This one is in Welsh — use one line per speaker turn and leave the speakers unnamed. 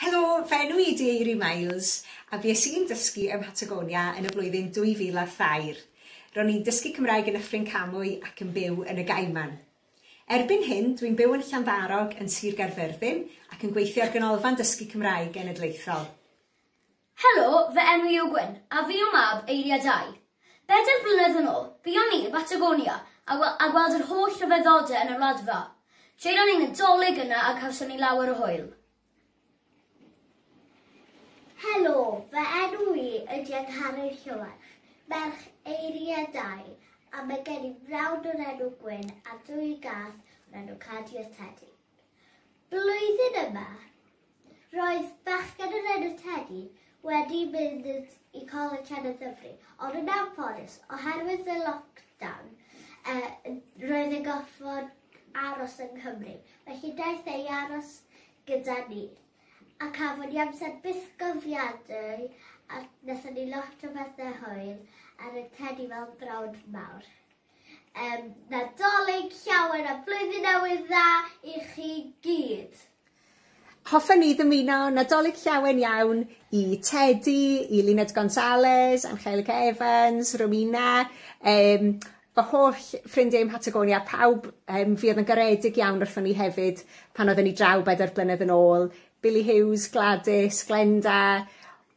Helo, fy enw i ydy Eiri Miles a fues i'n dysgu ym Mhatagonia yn y flwyddyn 2003. Ro'n i'n dysgu Cymraeg yn Nyffryn Camwy ac yn byw yn y Gaiman. Erbyn hyn, dwi'n byw yn Llanddarog yn Sir Gaerfyrddin ac yn gweithio ar Ganolfan Dysgu Cymraeg Genedlaethol. Helo, fy enw i yw Gwyn, a fi yw mab Eiliadau. Bedair blynedd yn ôl, buon ni yn y Batagonia a wel- a gweld yr holl ryfeddode yn yr Wladfa. Jaenon ni Nadolig yna a cawson ni lawer o hwyl. Helo, fy enw i ydy Angharad Llywarch, merch Eiliadau, a mae gen i frawd o'r enw Gwyn a dwy gath o'r enw Cadi a Tedi. Blwyddyn yma, roedd bachgen o'r enw Teddy wedi mynd i Coleg Cenedl Ddyfri, ond yn anffodus, oherwydd y lockdown, e, roedd yn gorfod aros yng Nghymru. Felly daeth ei aros gyda ni, a cafon ni amser bythgofiadwy a wnaethon ni lot o bethau hwyl a roedd Teddy fel brawd mawr. Yym, Nadolig llawen a Blwyddyn Newydd Dda i chi gyd. Hoffen ni ddymuno Nadolig llawen iawn i Tedi, i Luned Gonzales, Angelica Evans, Romina, um, fy holl ffrindiau ym Patagonia, pawb, um, fi oedd yn garedig iawn wrthon ni hefyd pan oedden ni draw bedair blynedd yn ôl, Billy Hughes, Gladys, Glenda,